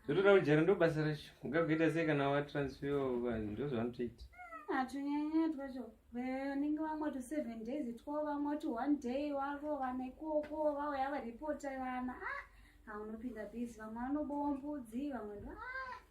zvotoda kujara ndobasa racho ungakuita sei kana watransfer vanhu ndozvavanotoita hatunyanya twacho vanenge vamwe to seven days two vamwe to one day wavo vana ikoko vauya varipota vana ah haunopinda bhizi vamwe vanobowa mbudzi vamwe ndo ah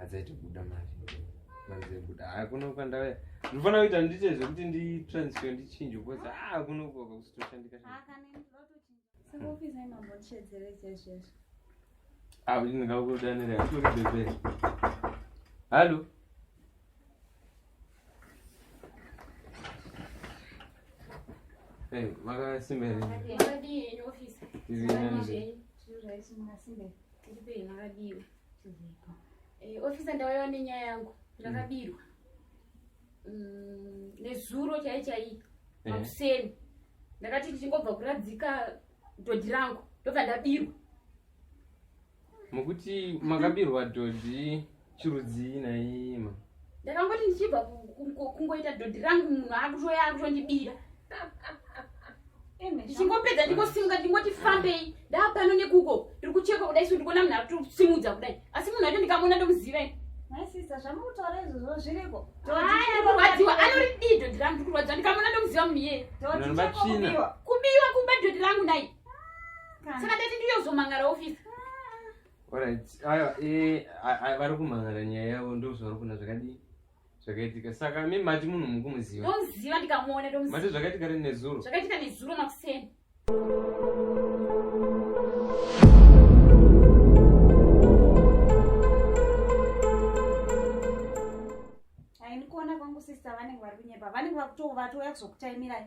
adzaiti kuda mari manzebuda haa kuno kwandave ndinofanira kuita ndiite zvekuti nditransfer ndichinje bcause haa kuno koka kusitoshandika haa kuti ndingakudanira kutori bebe hallo Hey, makasimba here? Ndizvinani. Ndipei makadiwa. Tiripo. Eh, officer ndauyawo nenyaya yangu. Ndakabirwa. Mm, nezuro chai chai. Makuseni. Ndakati ndichingobva kuradzika dhodhi rangu. Ndobva ndabirwa. Mukuti makabirwa dhodhi chirudzii naima ndakangoti ndichibva kungoita dhodhi rangu munhu akutoya akutondibira ndichingopedza ndingosimuka ndingoti fambei ndaapano nekuko tiri kuchekwa kudai so ndikuona munhu akutosimudza kudai asi munhu acho ndikamuona ndomuziva maisisa zvamukutaura izvozvo zviriko kurwadziwa anoridii dhodhi rangu ndikurwadziwa ndikamuona ndomuziva munhu iyeye kubiwa kumba dhodhi rangu nai saka ndati ndiyozomangara ofisi Alright, ayo eh vari kumhan'ara nyaya yavo ndozvavari kuona zvakadii zvakaitika saka mi mati munhu mukumuziva ndomuziva ndikamuona ndomuziva mati zvakaitika rini nezuro zvakaitika nezuro makuseni aindikuona kwangu sista vanenge vari kunyepa vanenge vakutovatouya kuzokutaimirai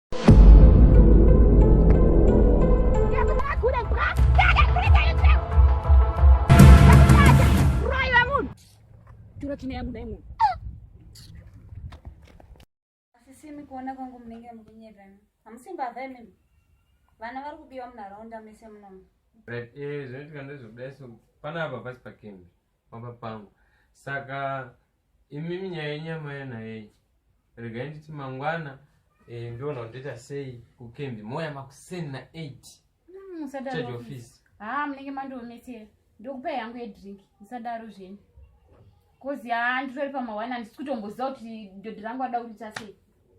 Asisimi kuona kwangu munenge mukunyeka. Hamusimba hava imimi. Vana vari kubiwa munharaunda mese munomu. Right, eh, zvinoitika ndezvekudai so panapa pasi pakembi. pamba pangu saka imimi nyaya yenyama yanayeyi regai nditi mangwana eh, ndiona kuti ndoita sei kukembi moya makuseni na 8 musadaro office haa ah, munenge mandionetsera ndokupai yangu yedrink musadaro zvenyu kozi haa nditori pamawani handisi kutomboziva kuti dhodhi rangu ada kuriita sei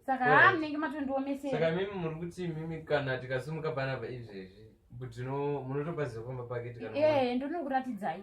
saka haa munenge matondiomeseasaka mimi muri kuti mimi kana tikasumuka panapa izvezvi butino munotopaziva pamba pake ee eh, ndonokuratidzai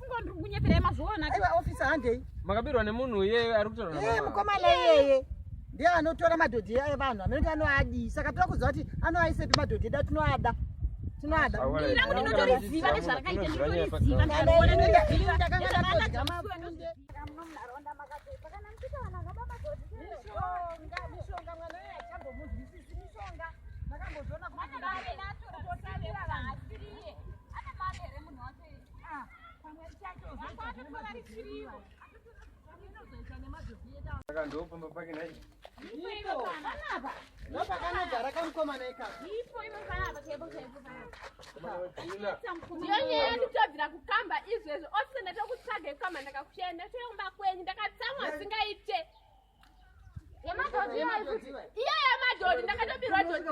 makabirwa nemunhu uyeye ari kutaura mukomana iyeye ndiye anotora madhodhi aye vanhu amene anoadii saka toda kuziva kuti anoaisepi madhodhi edu atinoada tinoada Ana mama here munhu wake Saka ndo pamba pake nai. Ipo ipo panapa. Ndo pakanogara kamukomana ikaka. Ipo ipo panapa kebo kebo panapa. Ndiyo nyaya yanditobvira kukamba izvezvo ose ndatokutsvaga ikamba ndakakushaya ndatoyomba kwenyu ndakatsamwa zvingaite. iya yamadhodhi ndakatobirwa dhodhi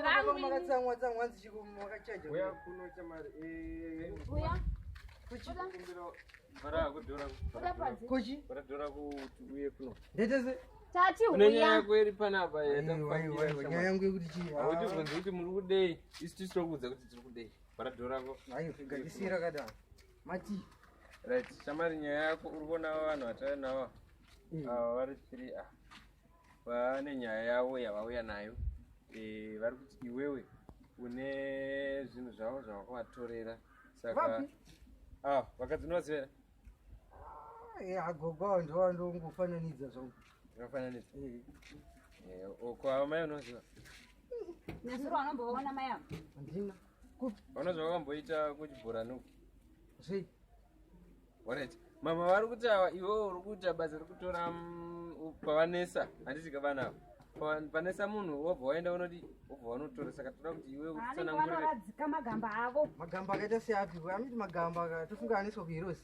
rangunyaya yangu yekuti chiiautibvunzi kuti muri kudei isu tisu tokuudza kuti tiri kudei varadhorako ayo figanisira kadaro Mati. Right, shamari nyaya yako uri kuona vanhu vatari nawa mm. ava vari three a ah. vane nyaya yavo yavauya nayo eh, vari kuti iwewe une zvinhu zvavo zvavakavatorera saka ah, vakadzinovaziva ah, agogo avo ndova ndongofananidza zvangu akafananidza eh. eh, ko ava mai unoziva nyazuro anombovaona mai avo handina Kupi? Ona zvawakamboita kuchibhorani uku. Zvei? Alright. Mama vari kuti awa iwewe uri kuita basa rekutora mm, u- pavanesa handiti ka vana ava. Pa- Panesa munhu wobva waenda unodi wobva wanotora saka toda kuti iwe Vanenge utsanangurire. vanoradzika magamba avo. Magamba akaita seapi? Amiti magamba aka tofunga aniswa kuhirosi.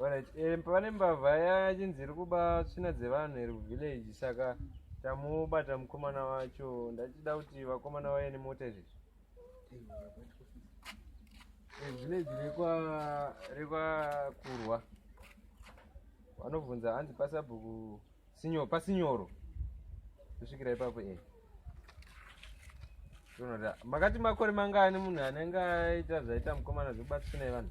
Alright, eh, pane mbavha yachinzi iri kuba tsvina dzevanhu iri kuvillage saka tamubata mukomana wacho ndachida kuti vakomana vaye nemota izvezvi eh, village rekwa rekwa kurwa vanobvunza hanzi pasabhuku sinyo pasinyoro kusvikira ipapo e eh. tonoda makati makore mangani munhu anenge aita zvaita mukomana zvekubatsvina yevanhu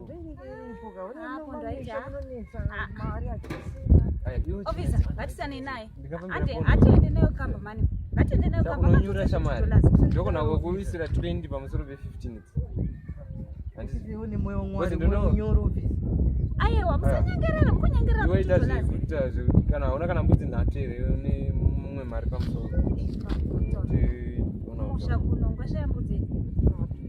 ndakakunyura shamari ndokona kukuisira 20 pamusoro pe15 aiwa musanyengerera mukunyengerera iwaita zvekuita zvekuti kana hauna kana mbudzi nhatu here une mumwe mari pamusoro musha kuno ngwashaya mbudzi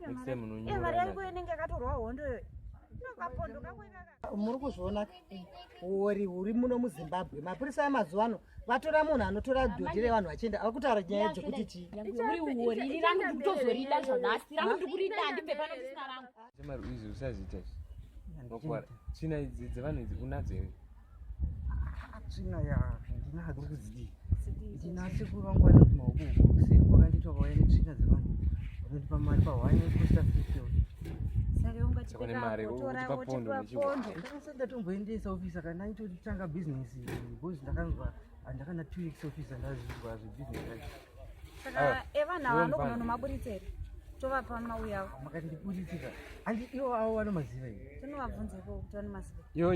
next time unonyora mari yangu inenge yakatorwa hondo iyoyo muri kuzviona uori huri muno muzimbabwe mapurisa amazuva ano vatora munhu anotora dhodhi revanhu vachienda ava kutaura nyaya dzekuti chii china idzi dzevanhu idzi unadzo here tsvina ya ndinadzo kudzii ndinasi kuvangwana kumaoko uko kuseri kwakanditwa vauya netsvina dzevanhu vanondipa mari pahwaya necosta fifil ndatomboendesa ofisa kana aitotanga bhizinesi bcause ndakanzwa andakana two weeks ofisa ndazvinzwa zvebusiness saka evana ava ndogona nomaburitsa here tovapa mauya avo makati ndiburitsika andi ivo avo vanomaziva here tinovabvunza iko kuti vanomaziva ivo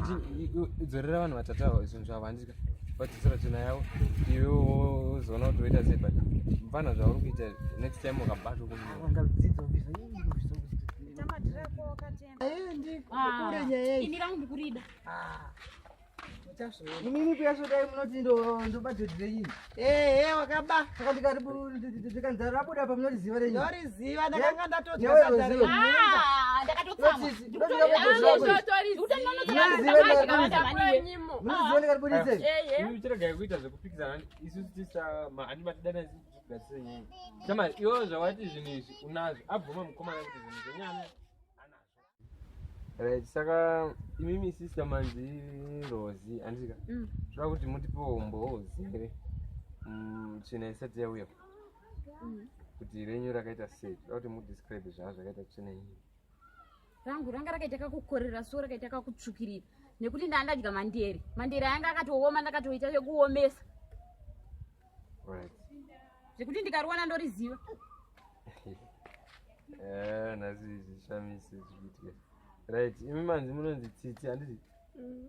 dzorera vanhu vatatu avo zvinhu zvavo handika vadzosera tsvina yavo iwe wozoona kuti woita sei but mfana zvauri kuita next time ukabatwa kuaendi kure nyaya iyi Mimi pia soda mnoti ndo ndo budget renyu. Eh eh wakaba. Saka ndikaribu ndikanzara rabuda pa mnoti ziva renyu. Ndori ziva ndakanga ndatodya sadza renyu. Ah ndakatotsama. Ndori ziva. Eh eh. Mimi chirega kuita zvekupikisa isu tisa ma anima tidana zvigatsire nyaya. Chama iwo zvawati zvinhu izvi unazvo abvuma mukomana kuti zvinhu zvenyana. right saka imimi sister manzi rozi andika mm. zvoda kuti mutipewo umbowo zere mm, tsvina isati yauya mm. kuti renyu rakaita sei zvoda kuti mudescribe zvaa zvakaita tsvina iyi rangu ranga rakaita kakukorera so rakaita kakutsvukirira nekuti ndandadya mandere mandere ayanga akatooma ndakatoita zvekuomesa zvekuti ndikariwana ndoriziva eh, nhasi zvishamise zvichiitika right imi manzi munonzi tsitsi handiti mm.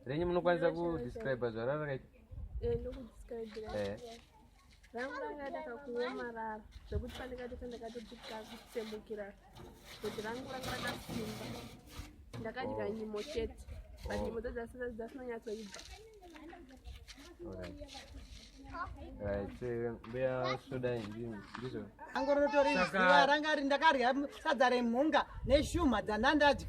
renyu munokwanisa kudescribe zvara rakaita eh, eh. rangu ranga ndakakuomarara zvekuti pandikati pandakatodikakutsemukira Kuti rangu ranga rakasimba. Ndakadya oh. nyimo chete. But oh. nyimo dzasina dzasina nyatso ibva. angorotorizviwa ranga ndakarya sadza remhunga neshuma dzandandadya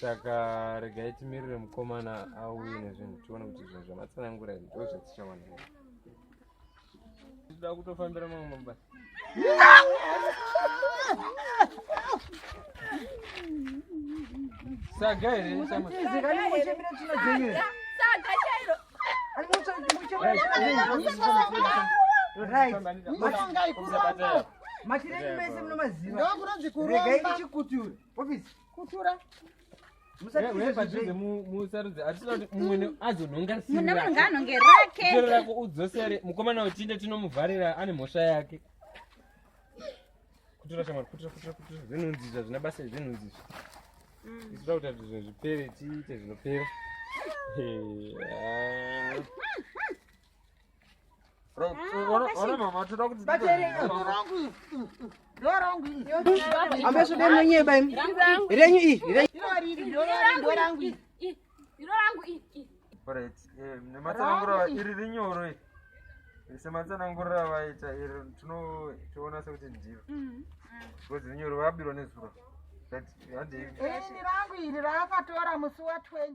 saka regai timirire mukomana auye nezvinhu tione kuti zvinhu zvamatsanangura izvi ndo zvatichawana tida kutofambira mamwe mabasa saga here matirei mese munomaziva regai ndichikuture ofisi kutura musarudzi atida kuti mumwene azonhonga simune munhu ngaanhonge rake tero rako udzosere mukomana wetinde tinomuvharira ane mhosva yake kutura shamwari kutura kutura kutura zvinhunzi izvi hazvina basa zvinhunzi izvi mm. isida kuti azvizvo zvipere tiite zvinopera nematsanangura iri rinyoro iri sematsanangurira vaita iri tinotiona sekuti ndiro because rinyoro vabirwa nezuro handirangu iri raakatora musi wa 20